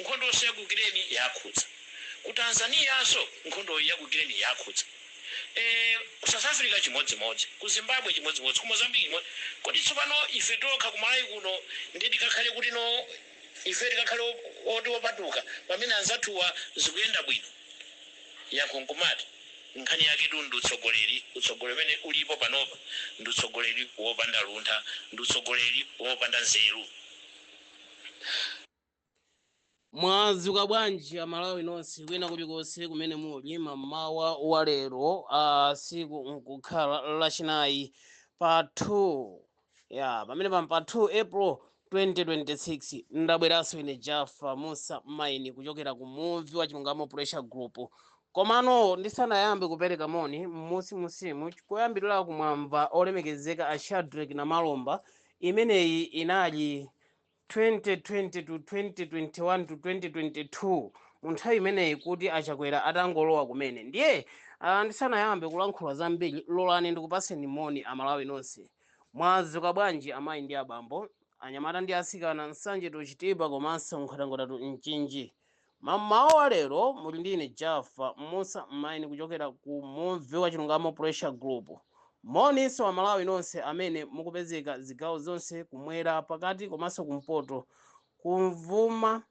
Nkhondonso ya ku Ukraine yakhudza. Ku Tanzaniyanso nkhondoyi ya ku Ukraine yakhudza. Eee ku South Africa chimodzimodzi. Ku Zimbabwe chimodzimodzi. Ku Mozambique chimod Kodi tsopano ife tokha ku Malawi kuno ndiye tikakhale kuti no, ifeyo tikakhale oti opatuka pamene anzathuwa zikuyenda bwino? Yankho nkumati nkhani yaketu ndi utsogoleri. Utsogoleri umene ulipo panopa ndi utsogoleri wopanda luntha. Ndi utsogoleri wopanda nzeru. mwazuka bwanji amalawi nonse kwina kulikonse kumene muli mamawa wa lero tsiku nkukhala lachinayi pa 2 ya pamene pam pa 2 april 2026 ndabweranso ine jaffa musa maini kuchokera ku muvi wa chilungamo pressure group komano ndisanayambe kupereka moni mmusimusimu koyambirira kumwamba olemekezeka a shadreck namalomba imeneyi inali 2020 to 2021 to 2022 mu nthawi imeneyi kuti achakwera atangolowa kumene ndiye ah, ndisanayambe kulankhula zambiri lolani ndikupatseni moni amalawi nonse mwazuka bwanji amayi ndi abambo anyamata ndi asikana nsanje to chitipa komanso nkhotakota to mchinji Mamawa wa lero muli ndi ine Jaffa Musa Maini kuchokera ku Muvi wa Chilungamo Pressure Group. Moninso a Malawi nonse amene mukupezeka zigawo zonse kumwera, pakati komanso kumpoto, kumvuma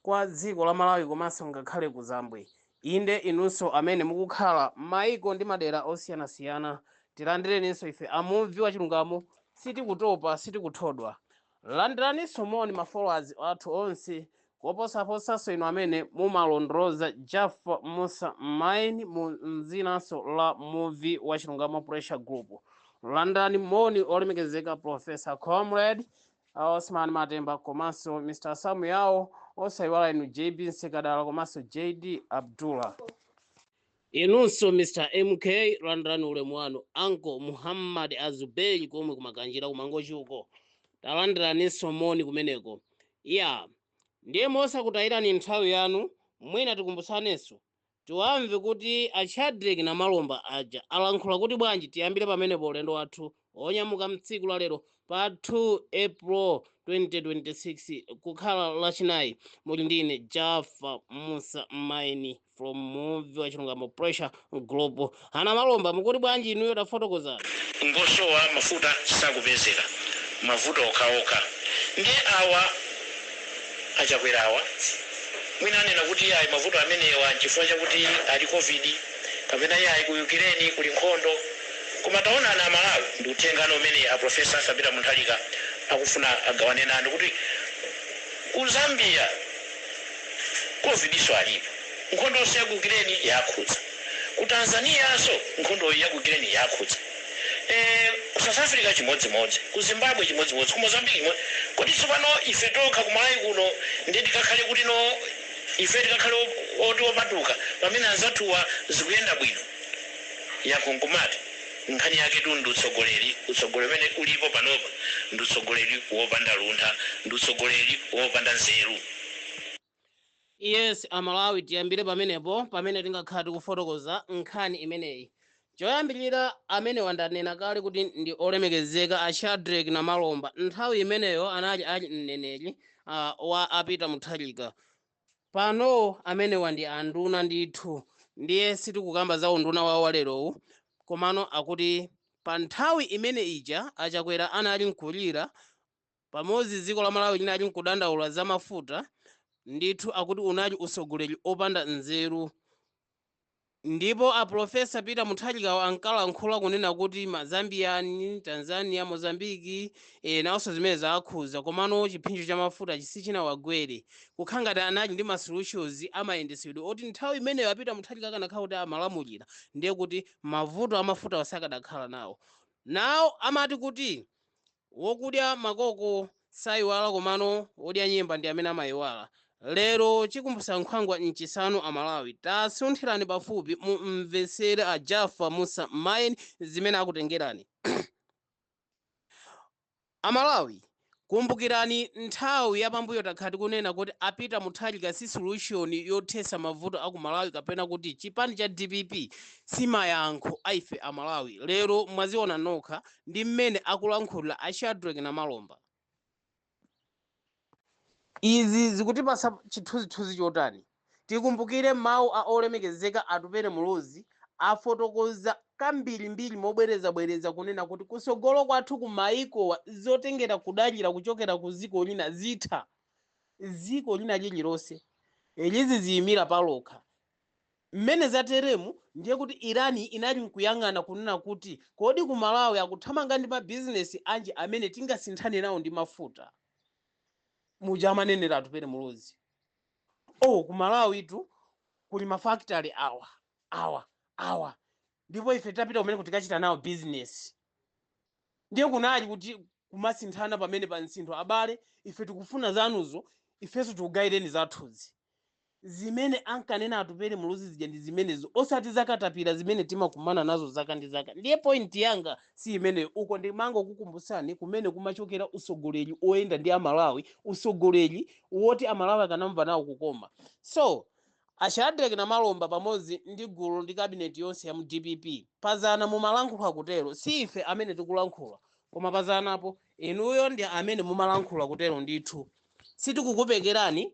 kwa dziko la Malawi komanso ngakhale kuzambwe. Inde inunso amene mukukhala maiko ndi madera osiyanasiyana tilandireninso ife a Muvi wa Chilungamo sitikutopa, sitikuthodwa. Landiraninso moni ma followers athu onse koposaposanso inu amene mumalondoloza Jaffa Musa Maini mu mdzinanso la Muvi wa Chilungamo Pressure Group. Landirani moni olemekezeka Prof. Comrade Osman Matemba komanso Mr Sam Yao osaiwala inu JB Nsekadala komanso JD Abdullah. Inunso Mr MK landirani ulemu wanu uncle Muhammad Azubeyi komwe ku Makanjira ku Mangochi uko talandiraninso moni kumeneko iyaa ndiye mosakutayirani nthawi yanu mwina tikumbutsanenso tiwamve kuti a Shadreck Namalomba aja alankhula kuti bwanji tiyambire pamenepo ulendo wathu onyamuka mtsiku la lero pa 2 april 2026 kukhala lachinayi muli ndine jaffa musa maini from muvi wa chilungamo pressure group a namalomba mukuti bwanji inuyo tafotokozani kungosowa mafuta sakupezeka mavuto okhaokha ndiye awa achakwera awa mwina anena kuti ayi mavuto amenewa nchifukwa chakuti kuli covid kapena iye ayi ku ukraine kuli nkhondo Koma taonani a Malawi ndi uthengano umene a Professor Arthur Peter Mutharika akufuna agawane nanu kuti ku Zambia Covid'so alipo, nkhondonso ya ku Ukraine yakhudza, ku Tanzanianso nkhondoyi ya ku Ukraine yakhudza, ee ku South Africa chimodzimodzi, ku Zimbabwe chimodzimodzi, ku Mozambique chimo. Kodi tsopano ife tokha ku Malawi kuno ndiye tikakhale kuti no, ife tikakhale oti opatuka pamene anzathuwa zikuyenda bwino? Yankho nkumati, Nkhani yaketu ndi utsogoleri. Utsogoleri umene ulipo panopa ndi utsogoleri wopanda luntha. Ndi utsogoleri wopanda nzeru. Yes, a Malawi tiyambire pamenepo pamene tingakhala tikufotokoza nkhani imeneyi. Choyambirira amenewa ndanena kale kuti ndi olemekezeka a Shadreck Namalomba. Nthawi imeneyo anali a mneneri, uh, wa a Peter Mutharika. Pano amenewa ndi anduna ndithu ndiye sitikukamba za unduna wawo wa lerowu komano akuti pa nthawi imene ija a Chakwera anali nkulira pamodzi dziko la Malawi linali nkudandaula za mafuta ndithu akuti unali utsogoleri opanda nzeru Ndipo a Professor Peter Mutharikawo ankalankhula kunena kuti ma Zambia, Tanzania, Mozambique eh nawonso zimene zakhuza komano chiphinjo cha mafutachi sichinawagwere. Kukhala ngati anali ndi ma solutions a mayendetsedwe oti nthawi imeneyo a Peter Mutharika akanakhala kuti amalamulira ndiye kuti mavuto a mafutawa sakadakhala nawo. Now amati kuti Wokudya makoko saiwala komano wodya nyemba ndi amene amaiwala. Lero chikumbusa nkhwangwa nchisanu a Malawi. Tasunthirani pafupi mu mvetsere a Jaffa Mussa Mayen zimene akutengerani. A Malawi kumbukirani nthawi ya pambuyo takhala tikunena kuti a Peter Mutharika si solution yothesa mavuto a ku Malawi kapena kuti chipani cha dpp si mayankho a ife a Malawi. Lero mwaziona nokha. ndi mmene akulankhulira a Shadrack Namalomba. Izi zikutipatsa chithunzithunzi chotani? Tikumbukire mawu a olemekezeka Atupele Muluzi afotokoza kambirimbiri mobwerezabwereza kunena kuti kutsogolo kwathu ku maikowa zotengera kudalira kuchokera ku dziko lina zitha. Dziko lina lililonse lizidziyimira palokha Mmene zateremu ndiye kuti Iran inali nkuyang'ana kunena kuti kodi ku Malawi akuthamanga ndi ma business anji amene tingasinthane nawo ndi mafuta. Muja amanenera Atupele Muluzi. Oh ku Malawitu kuli ma factory awa, awa, awa ndipo ife titapita kumeneko tikachita nawo business. Ndiye kunali kuti kumasinthana pamenepa msintho abale ife tikufuna zanuzo ifenso tikugaireni zathuzi. zimene ankanena Atupele Muluzi zija ndi zimenezo osati zakatapira zimene timakumana nazo zaka ndi zaka ndiye point yanga si imeneyo uko ndimangokukumbutsani kumene kumachokera usogoleri oyenda ndi Amalawi usogoleri woti Amalawi akanamva nawo kukoma so a Shadreck Namalomba pamodzi ndi gulu ndi kabineti yonse ya mu DPP pazana mumalankhula kutero si ife amene tikulankhula koma pazanapo inuyo ndi amene mumalankhula kutero ndithu sitikukupekerani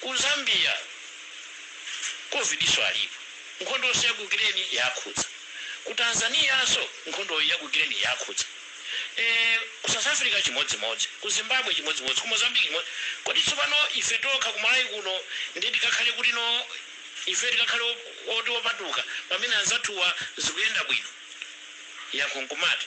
Ku Zambia Covid'so alipo, nkhondoso ya ku Ukraine yakhudza. Ku Tanzania'so nkhondoyi ya ku Ukraine yakhudza. Eee ku South Africa chimodzimodzi, ku Zimbabwe chimodzimodzi, ku Mozambique chimodzimodzi. Kodi tsopano ife tokha ku Malawi kuno ndiye tikakhale kuti no? Ifeyo tikakhale oti opatuka pamene anzathuwa zikuyenda bwino? Yankho nkumati.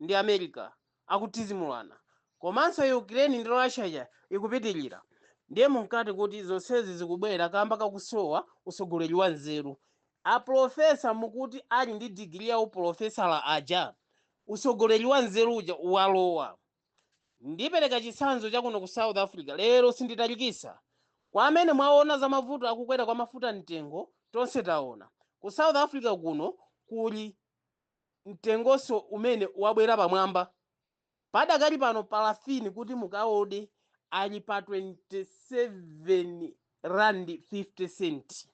ndi America akutizimulana komanso Ukraine ndi Russia ija ikupitilira ndiye munkati kuti zonsezi zikubwera kamba kakusowa utsogoleri wa nzeru a professor mukuti ali ndi degree ya uprofesala aja usogoleri wa nzeru uja walowa ndipereka chitsanzo chakuno ku South Africa lero sinditalikisa kwa amene mwaona za mavuto akukwera kwa mafuta mtengo tonse taona ku South Africa kuno kuli mtengonso umene wabwera pamwamba padakali pano parafini kuti mukaode ali pa 27 rand 50 cent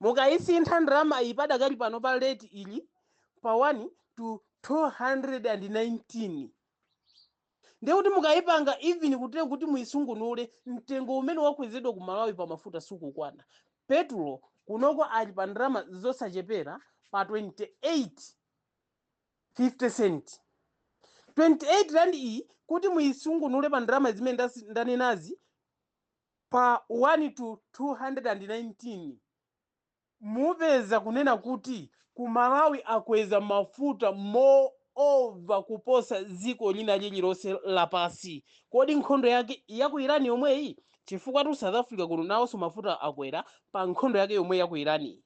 mukayisintha ndalama iyi padakali pano pa rate ili pa 1 to 219 Ndiye kuti mukayipanga even kuti kuti muyisungunule mtengo umene wakwezedwa ku Malawi pa mafuta sukukwana. Petulo kunoko ali pa ndalama zosachepera pa 28 50 cent. 28 rand iyi kuti muyisungunule pa ndalama zimene ndasi- ndanenazi pa 1 to 219 mupeza kunena kuti ku Malawi akweza mafuta moreover kuposa dziko lina lililonse lapasi kodi nkhondo yake ya ku Iran yomweyi chifukwatu South Africa kuno nawonso mafuta akwera pa nkhondo yake yomwe ya ku Iran yi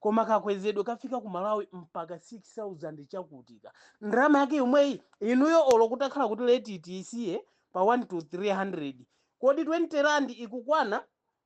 koma kakwezedwe kafika ku Malawi mpaka 6000 chakutika ndalama yake yomweyi inuyo olo kutakhala kuti rate tiyisiye pa 1 to 300 kodi 20 rand ikukwana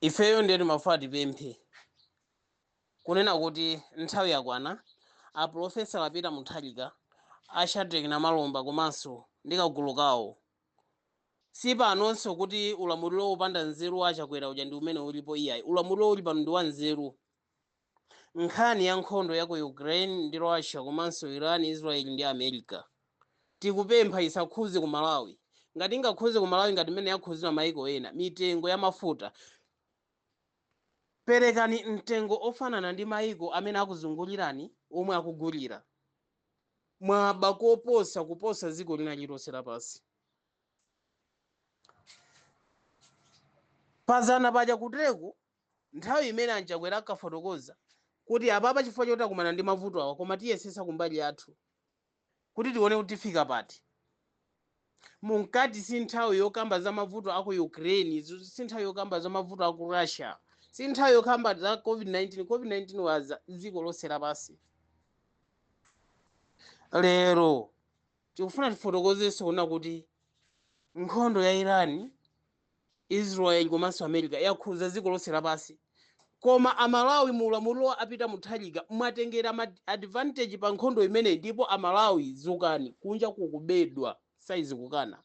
ifeyo ndiye timafuna tipemphe kunena kuti nthawi yakwana a profesa a Peter Mutharika a Shadreck Namalomba komanso ndi kagulu kawo si panonso kuti ulamuliro wopanda nzeru wa a Chakwera uja ndi umene ulipo iyayi ulamuliro uli pano ndi wa nzeru Nkhani ya nkhondo ya ku Ukraine ndi Russia komanso Iran, Israel ndi America tikupempha isakhuze ku Malawi. Ngati ingakhuze ku Malawi ngati mmene yakhuzira maiko ena, mitengo ya mafuta, perekani mtengo ofanana ndi maiko amene akuzungulirani omwe akugulira. Mwaba koposa kuposa dziko lina lililonse lapansi. Padzana paja kuteku nthawi imene a Chakwera ankafotokoza kuti apapa chifukwa choti takumana ndi mavuto awa koma tiyesetsa kumbali yathu kuti tione kuti tifika pati. Munkati si nthawi yokamba za mavuto a ku Ukraine, zu- si nthawi yokamba za mavuto a ku Russia, si nthawi yokamba za COVID-19. COVID-19 yadza dziko lonse lapansi. Lero tikufuna tifotokozenso kunena kuti nkhondo ya Iran Israel komanso America yakhuza dziko lonse lapansi koma amalawi mu ulamuliro wa a Peter Mutharika mwatengera advantage pa nkhondo imeneyi ndipo amalawi zukani kunja kukubedwa saizi kukana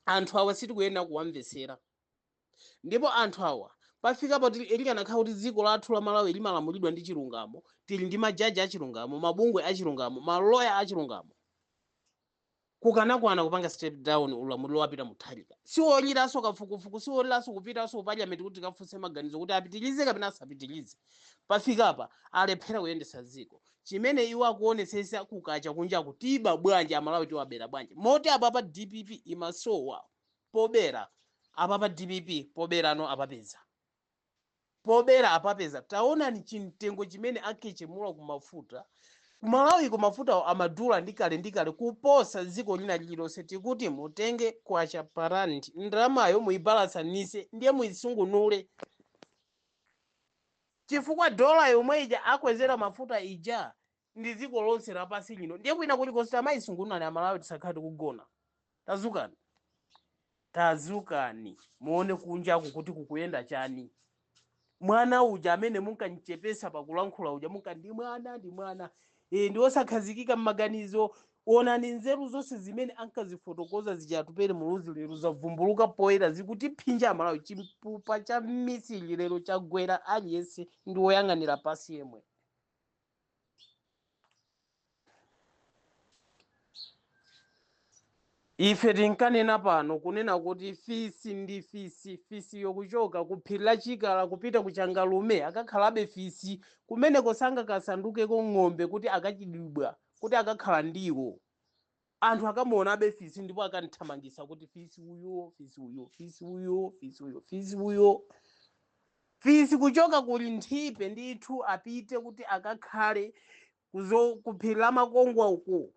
anthu awa sitikuyenera kuwamvetsera ndipo anthu awa pafika poti likanakhala kuti dziko lathu la malawi limalamulidwa ndi chilungamo tili ndi majaji achilungamo mabungwe achilungamo maloya achilungamo kukanakwana kupanga step down ulamuliro wa Peter Mutharika. Siwoneranso kafukufuku, siwoneranso kupitanso ku parliament kuti tikafunse maganizo kuti apitirize kapena asapitirize. Pafikapa alephera kuyendetsa dziko. Chimene iwo akuonetsetsa kukacha kunjaku tiba bwanji, Amalawi tiwabera bwanji. Moti apapa dpp imasowa pobera, apapa dpp poberano apapeza. pobera apapeza taonani chimtengo chimene akhetchemula ku mafuta ku malawi ko mafutawo amadula ndi kale ndi kale kuposa dziko lina lililonse tikuti mutenge kwacha pa rand ndalamayo muyibalansanitse ndiye muyisungunule chifukwa dollar yomwe ija akwezera mafuta ija ndi dziko lonse lapansi lino ndiye kwina kulikonse tamayisungunulani amalawi tisakhale tikugona tazukani tazukani muone kunjaku kuti kukuyenda chani mwana uja amene munkamuchepetsa pakulankhula uja munkati ndi mwana ndi mwana e, ndi osakhazikika mmaganizo onani nzeru zonse zimene ankazifotokoza zija Atupele Muluzi lero zavumbuluka poyera zikutiphinja amalawi chipupa cha mmisiri lero chagwera aliyense ndi woyang'anira pansi yemwe ife tinkanena pano kunena kuti fisi ndi fisi fisi ukuchoka ku phiri la chikala kupita ku changalume akakhalabe fisi kumeneko sangakasandukeko ng'ombe kuti akachitidwa kuti akakhala ndiwo anthu akamuonabe fisi ndipo akamthamangisa kuti fisi uyo fisi uyo fisi uyo fisi uyo fisi uyo fisi kuchoka kuli nthipe ndithu apite kuti akakhale kuphiri la makongwa uko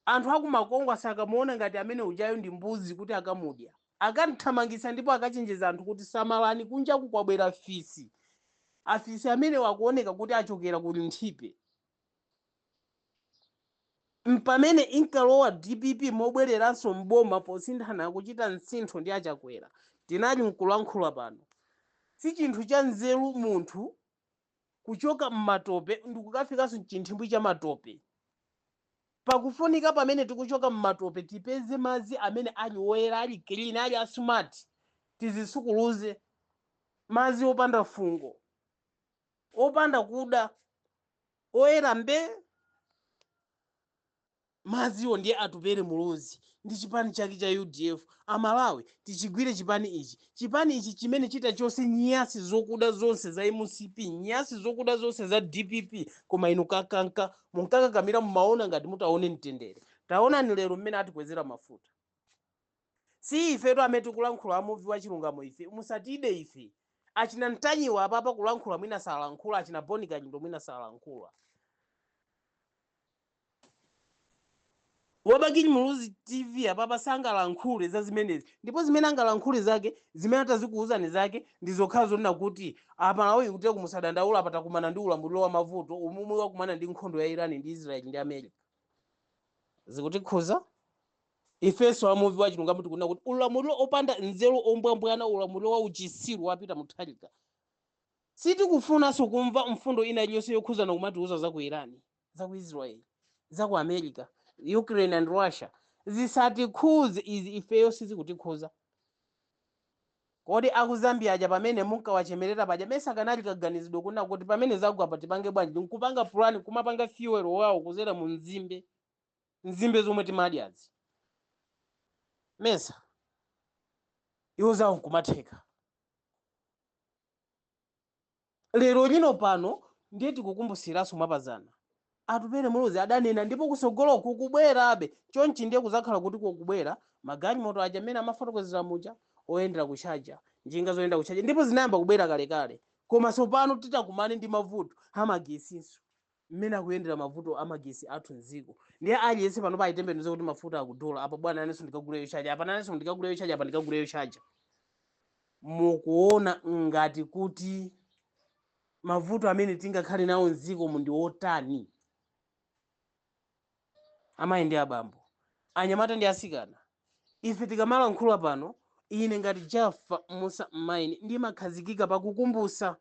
anthu akumakongwa sakamuona ngati amene ujayo ndi mbuzi kuti akamudya akamthamangisa ndipo akachenjeza anthu kuti samalani kunjaku kwabwera fisi afisi amene akuoneka kuti achokera kuli nthipe mpamene inkalowa dpp mobweleranso m'boma posinthana kuchita msintho ndi a Chakwera tinali nkulankhula pano. Sichinthu cha nzeru munthu kuchoka m'matope ndikukafikanso mchithimbwi cha matope. Pakufunika pamene tikuchoka m'matope tipeze madzi amene ali oyera, ali clean, ali a smart. Tizisukuluze. Madzi opanda fungo. opanda kuda oyera mbe madziwo ndiye atupele muluzi ndi chipani chake cha udf amalawi tichigwire chipani ichi chipani ichi chimene chita chonse nyasi zokuda zonse za mcp nyasi zokuda zonse za dpp koma inu kakaka munkakakamira mumaona ngati mutaone mtendere taonani lero mmene atikwezera mafuta Si ifetu amene tikulankhula amuvi wa chilungamo ife musatide ife. Achina Ntanyiwa apapa kulankhula mwina salankhula achina Boni Kalindo mwina salankhula. Wabakili Muluzi TV apapa sangalankhule za zimenezi ndipo zimene angalankhule zake zimene atazikuwuzani zake ndi zokhala zonena kuti a Malawi kuti musadandaule apa takumana ndi ulamuliro wa mavuto omwe wakumana ndi nkhondo ya Iran ndi Israel ndi America. Zikutikhuza? Ifenso a muvi wachilungamo tikunena kuti ulamuliro opanda nzeru ombwambwana ulamuliro wa uchitsiru wa Peter Mutharika. Sitikufunanso kumva mfundo ina iliyonse yokhuzana kumatiuza za ku Iran, za ku Israel, za ku America, Ukraine and Russia. Zisatikhuze izi ifeyo sizikutikhuza. Kodi aku Zambia aja pamene munkawachemerera paja mesa kanali kaganizidwe kunena kuti pamene zagwa apa tipange bwanji? Nkupanga plan kumapanga fuel wawo kuzera mu nzimbe. nzimbe zomwe timadyazi mesa iwo zawo nkumatheka lero lino pano ndiye tikukumbusiranso mwapazana atupele muluzi adanena ndipo kusogolo kukubwerabe chonchi ndiye kuzakhala kuti kukubwera magalimoto aja amene amafotokozera muja oyendera kuchaja njinga zoyendera kuchaja ndipo zinayamba kubwera kalekale koma tsopano titakumane ndi mavuto amagesinso mmene akuyendera mavuto amagesi athu mdziko ndiye aliyense panopa ayitembenuze kuti mafuta akudula apa bwana nanenso ndikagule yochaja apa nanenso ndikagule yochaja apa ndikagule yochaja mukuona ngati kuti mavuto amene tingakhale nawo mdziko mu ndi otani amayi ndi abambo anyamata ndi asikana ife tikamalankhula pano ine ngati jafa musa mmaini ndimakhazikika pakukumbusa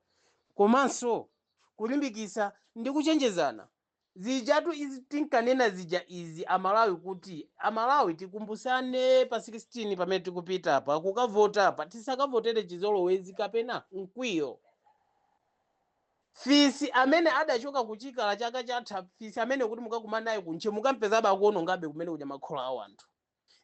komanso kulimbikisa ndi kuchenjezana zijatu izi tinkanena zija izi amalawi kuti amalawi tikumbusane pa 16 pamene tikupita pa kukavota pa tisakavotere chizolowezi kapena mkwiyo Fisi amene adachoka ku chikala chaka chatha fisi ameneyo kuti mukakumane naye ku ntche mukampezabe akuonongabe kumene kuja makhola a wanthu.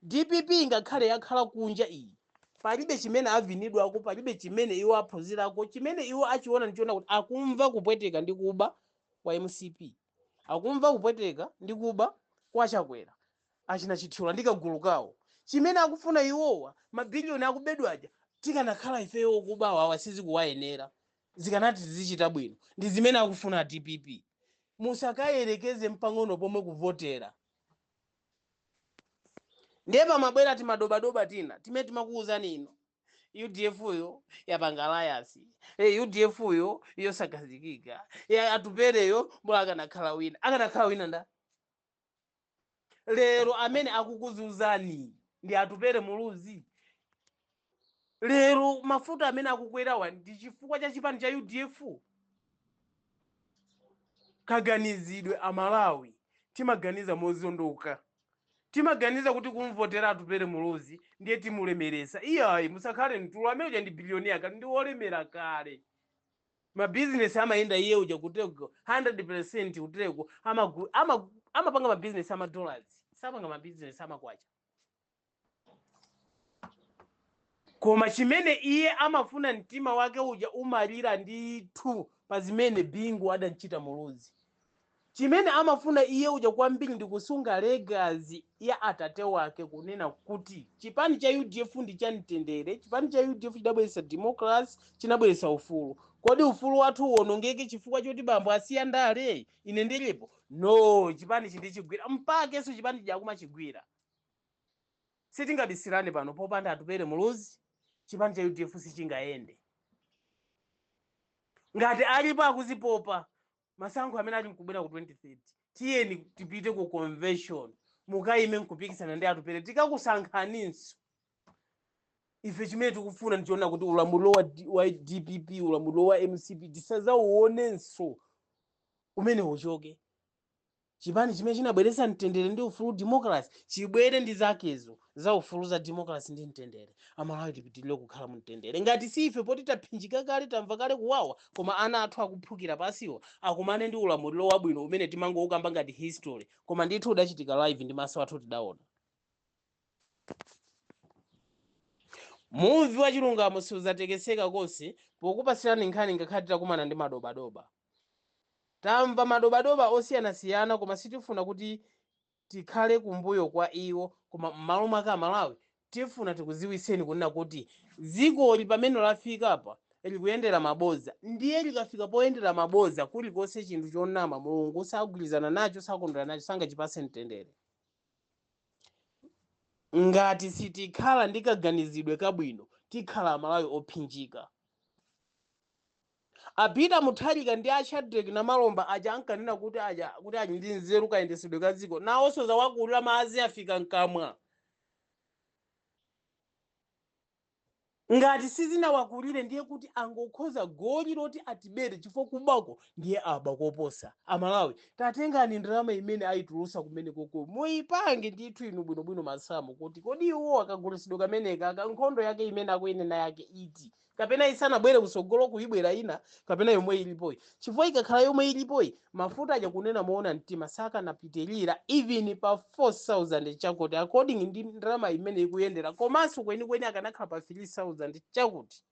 Dpp ingakhale yakhala kunja iyi palibe chimene avinidwako palibe chimene iwo aphunzirako chimene iwo achiona ndichonena kuti akumva kupweteka ndi kuba kwa mcp akumva kupweteka ndi kuba kwa chakwera achina chithyola ndi kagulu kawo chimene akufuna iwowa mabiliyoni akubedwawa tikanakhala ifeyo okubawa awa sizikuwayenera. zikanati zizichita bwino ndi zimene akufuna a dpp musakayerekeze mpang'ono pomwe kuvotera ndiye pamabwera timadobadoba tina timene timakuwuzani ino udf yo yapanga alliance, udf yo yosakhazikika atupereyo mbola akanakhala wina akanakhala wina nda lero amene akukuzunzani ndi atupere muluzi lero mafuta amene akukwerawa ndi chifukwa cha chipani cha udf kaganizidwe amalawi timaganiza mozondoka timaganiza kuti kumvotera atupere muluzi ndiye timulemeresa iyayi musakhale mtulo amene uja ndi biliyoniya kale ndi wolemera kale ma business amayenda iye uja kuteko 100% kuteko amagu- ama- amapanga ma business ama dollars sapanga ma business amakwacha koma chimene iye amafuna mtima wake uja umalira ndithu pa zimene bingu adamchita muluzi Chimene amafuna iye uja kwambiri ndi kusunga legacy ya atate wake kunena kuti chipani cha udf ndi cha mtendere, chipani cha udf chidabweretsa democracy, chinabweretsa ufulu. Kodi ufulu wathu uwonongeke chifukwa choti bambo asiya ndale? Ine ndilipo? No! Chipanichi ndichigwira. Mpakenso chipani chija akumachigwira. Sitingabisirane pano, popanda Atupele Muluzi, chipani cha udf sichingayende. Ngati alipo akuzipopa, masankho amene ali mkubwera ku 2030 tiyeni tipite ku convention mukayime nkupikisana ndi atupere tikakusankhaninso ife chimene tikufuna ndichonena kuti ulamuliro wa, D- wa dpp ulamuliro wa mcp tisazauonenso umene uchoke chipani chimene chinabweretsa mtendere ndi ufulu democracy chibwere ndi zakezo za ufulu za democracy ndi mtendere amalawi tipitirire kukhala mu mtendere ngati si ife poti taphinjika kale tamva kale kuwawa koma ana athu akuphukira pansiwa akumane ndi ulamuliro wabwino umene timangoukamba ngati history koma ndithu udachitika live ndi maso athu tidaona muvi wa chilungamo siuzatekeseka konse pokupatsirani nkhani ngakhale titakumana ndi madobadoba Tamva madobadoba osiyanasiyana koma sitifuna kuti tikhale kumbuyo kwa iwo koma mmalo mwake amalawi tifuna tikuziwitseni kunena kuti dzikoli pamene lafikapa likuyendera maboza ndiye likafika poyendera maboza kulikonse chinthu chonama mulungu sagwirizana nacho sakondwera nacho sangachipatse mtendere ngati sitikhala ndi kaganizidwe kabwino tikhala amalawi ophinjika. A Peter Mutharika ndi a Shadreck Namalomba aja ankanena kuti ali ndi nzeru kayendetsedwe ka dziko nawonso zawakulira madzi afika mkamwa. Ngati sizinawakulire ndiye kuti angokhoza goli loti atibere chifukwa kubako ndiye aba koposa. A Malawi tatengani ndalama imene ayitulutsa kumenekoko muyipange ndithu inu bwinobwino masamu kuti kodi iwo kagulitsidwe kameneka ka nkhondo yake imene akuyinena yake iti. kapena isanabwere kutsogolo kubwera ina kapena yomwe ilipoyi chifukwa ikakhala yomwe ilipoyi mafuta aja kunena moona mtima sakanapitirira even pa 4000 chakuti according ndi ndalama imene ikuyendera komanso kwenikweni akanakhala pa 3000 chakuti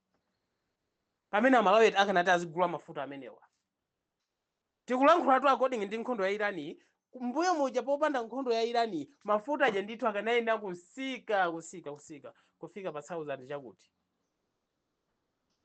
pamene amalawi akanati azigula mafuta amenewa Tikulankhulatu according ndi nkhondo ya Iran yi, mbuyomuja popanda nkhondo ya Iran yi mafuta aja ndithu akanayenera kusika kusika kusika kufika pa thousand chakuti.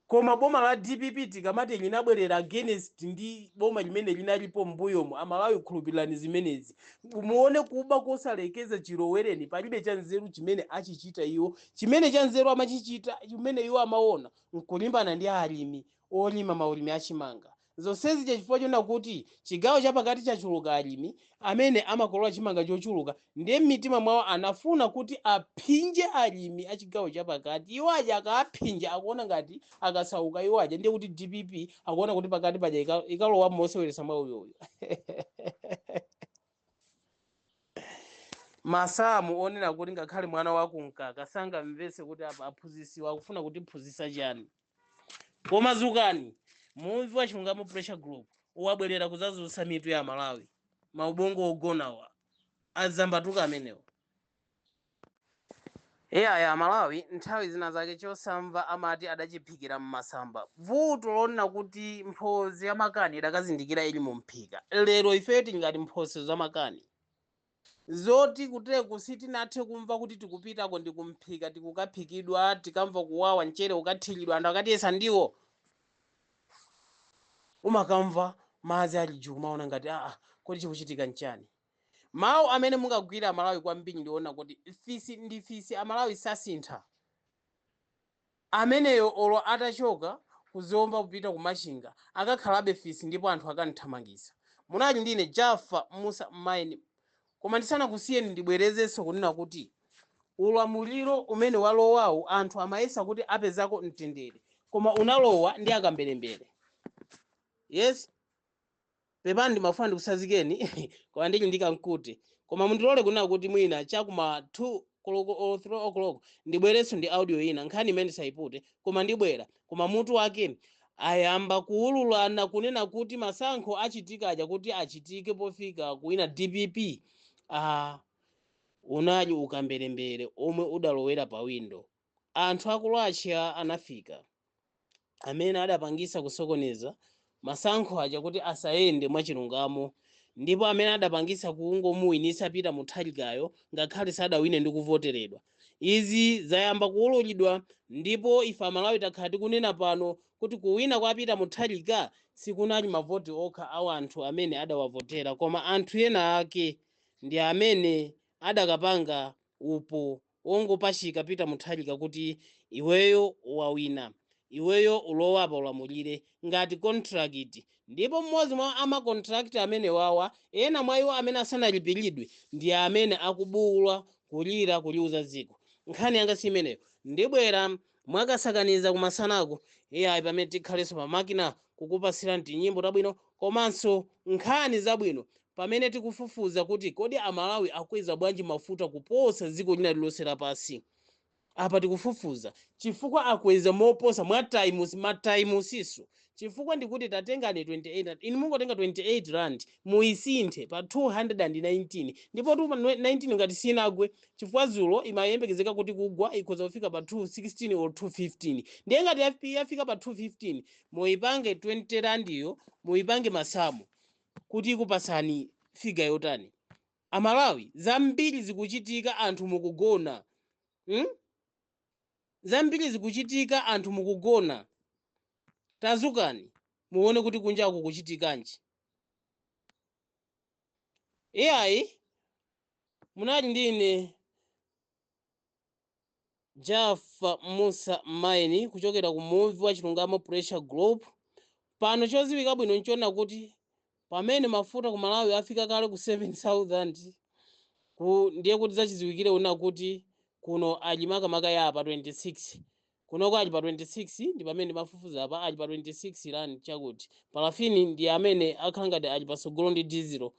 Koma boma la dpp tikamati linabwera against ndi boma limene linalipo m'mbuyomu, Amalawi khulupirirani zimenezi. Muone kuba kosalekeza chilowereni palibe chanzeru chimene achichita iwo. Chimene chanzeru amachichita chimene iwo amaona n'kulimbana ndi alimi olima maulimi a chimanga. Zonse zija chifukwa choona kuti chigawo chapakati chachuluka alimi amene amakolola chimanga chochuluka ndiye m'mitima mwawo anafuna kuti aphinje alimi a chigawo chapakati. Iwo aja akaaphinja akuona ngati akasauka iwo aja ndiye kuti dpp akuona kuti pakati paja ika- ikalowamo moseweretsa mwauyoyo. masamu onena kuti ngakhale mwana wakumkaka sangamvetse kuti apa aphunzitsiwa akufuna kutiphunzitsa chani koma zukani muvi wa chilungamo pressure group wabwera kuzazutsa mitu ya amalawi maubongo ogonawa adzambatuka amenewo eya amalawi nthawi zina zake chosamva amati adachiphikira mmasamba vuto lonena kuti mphozi ya makani idakazindikira ili mu mphika lero ifeyo tingati mphosi za makani Zoti kuteko sitinathe kumva kuti tikupitako ndi ku mphika tikukaphikidwa tikamva kuwawa mchere ukathilidwa anthu akatiyesa ndiwo umakamva madzi ali juu kumaona ngati aa kodi chikuchitika nchani mawu amene mungagwira amalawi kwambiri ndi onena kuti fisi ndi fisi amalawi sasintha Ameneyo olo atachoka Ku zomba kupita Ku machinga akakhalabe fisi ndipo anthu akamuthamangitsa. Munali ndi ine Jaffa Mussa Maini koma ndisanakusiyeni ndibwerezenso kunena kuti ulamuliro umene walowawu anthu amayesa kuti apezako mtendere koma unalowa ndi akamberembere. Yes. Pepani ndimafuna ndikutsanzikeni koma ndili ndi kamkute. Koma mundilole kunena kuti mwina cha ku ma 2 koloko or 3 o'clock ndibwerenso ndi audio ina. Nkhani imeneyi sindiipute koma ndibwera. Koma mutu wake, Ayamba kuululana kunena kuti masankho achitika aja kuti achitike pofika kuwina dpp. Aaa unali ukamberembere omwe udalowera pa window. anthu a ku Russia anafika amene adapangisa kusokoneza masankho aja kuti asayende mwachilungamo ndipo amene adapangisa kungomuwinisa Peter Mutharikayo ngakhale sadawine ndi kuvoteredwa. Izi zayamba kuwululidwa ndipo ife Amalawi takhala tikunena pano kuti kuwina kwa Peter Mutharika sikunali mavoti okha a anthu amene adawavotera koma anthu ena ake ndi amene adakapanga upo wongopachika peter mutharika kuti iweyo wawina iweyo ulowapa ulamulire ngati contract ndipo mmodzi mwa ama contract amenewawa ena mwa iwo amene asanalipilidwe ndi amene akubuula kulira kuliuza dziko nkhani yanga si imeneyo ndibwera mwakasakaniza kumasanako iyayi pamene tikhalenso pa makina kukupatsirani tinyimbo tabwino komanso nkhani zabwino Pamene tikufufuza kuti kodi a Malawi akweza bwanji mafuta kuposa dziko lina lilonse lapansi, apa tikufufuza chifukwa akweza moposa ma times ma times'nso chifukwa ndikuti tatengani 28, inu mungotenga 28 rand muisinthe pa 219 ndipo 219 ngati sinagwe chifukwa dzulo imayembekezeka kuti kugwa ikhoza kufika pa 216 or 215 ndiye ngati yafika pa 215 muipange 20 randiyo muipange masamu kuti ikupatsani figure yotani amalawi zambiri zikuchitika anthu mukugona mm? zambiri zikuchitika anthu mukugona tazukani muone kuti kunjaku kukuchitikanji iyayi munali ndi ine Jafa Mussa Maini kuchokera ku Muvi wa Chilungamo Pressure Group, pano choziwika bwino nchona kuti pamene mafuta ku Malawi afika kale ku 7000 ndiye kuti zachiziwikire una kuti kuno ali makamaka ya pa 26 kunoko ali pa 26 ndi pamene ndimafufuza apa ali pa 26 rand chakuti parafini ndi amene akhala ngati ali patsogolo ndi dizilo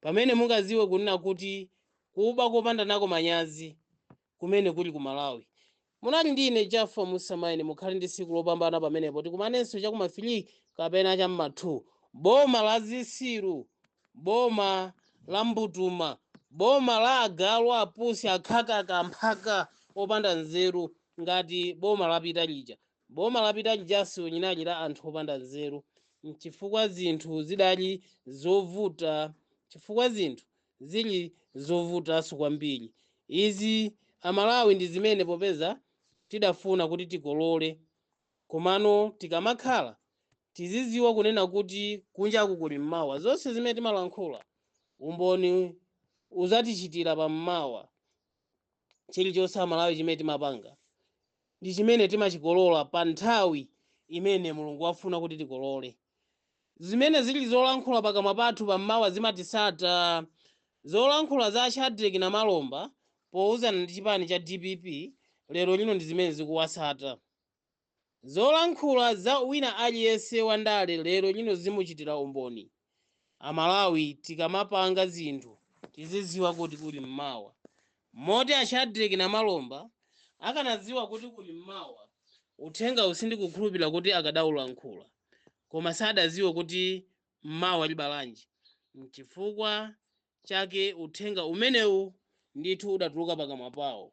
Pamene mungaziwe kunena kuti kuba kopanda nako manyazi kumene kuli ku Malawi. Munali ndi ine Jaffa Mussa Maini mukhale ndi siku lopambana pamenepo tikumanenso cha kuma 3 kapena cha mma 2 boma la zisiru boma la mbutuma boma la agalu apusi akhakaka amphaka opanda nzeru ngati boma lapita lija Boma lapita lijaso linali la anthu opanda nzeru chifukwa zinthu zidali zovuta chifukwa zinthu zili zovutaso kwambiri izi amalawi ndi zimene popeza tidafuna kuti tikolole komano tikamakhala tiziziwa kunena kuti kunjaku kuli mmawa zonse zimene timalankhula umboni uzatichitira pa mmawa Chilichonse amalawi chimene timapanga ndi chimene timachikolola pa nthawi imene Mulungu wafuna kuti tikolole. Zimene zili zolankhula pakamwa pathu pa mmawa zimatisata. Zolankhula za a Shadreck Namalomba pouzana ndi chipani cha dpp lero lino ndi zimene zikuwasata. Zolankhula za wina aliyense wa ndale lero lino zimuchitira umboni. A Malawi tikamapanga zinthu tiziziwa kuti kuli mmawa. Moti a Shadreck Namalomba akanaziwa kuti kuli mmawa uthengawu sindikukhulupirira kuti akadaulankhula. Koma sadaziwe kuti mmawa libalanji. N'chifukwa chake uthenga umenewu ndithu udatuluka pakamwa pawo.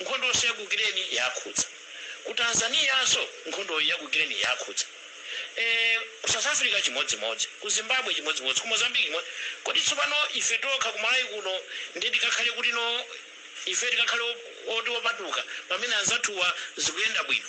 Nkhondonso ya ku Ukraine yakhudza. Ku Tanzaniyanso nkhondoyo ya ku Ukraine yakhudza. Eee ku South Africa chimodzimodzi. Ku Zimbabwe chimodzimodzi. Ku Mozambique chimodzi. Kodi tsopano ife tokha ku Malawi kuno ndiye tikakhale kuti no? Ife tikakhale oti opatuka pamene anzathuwa zikuyenda bwino?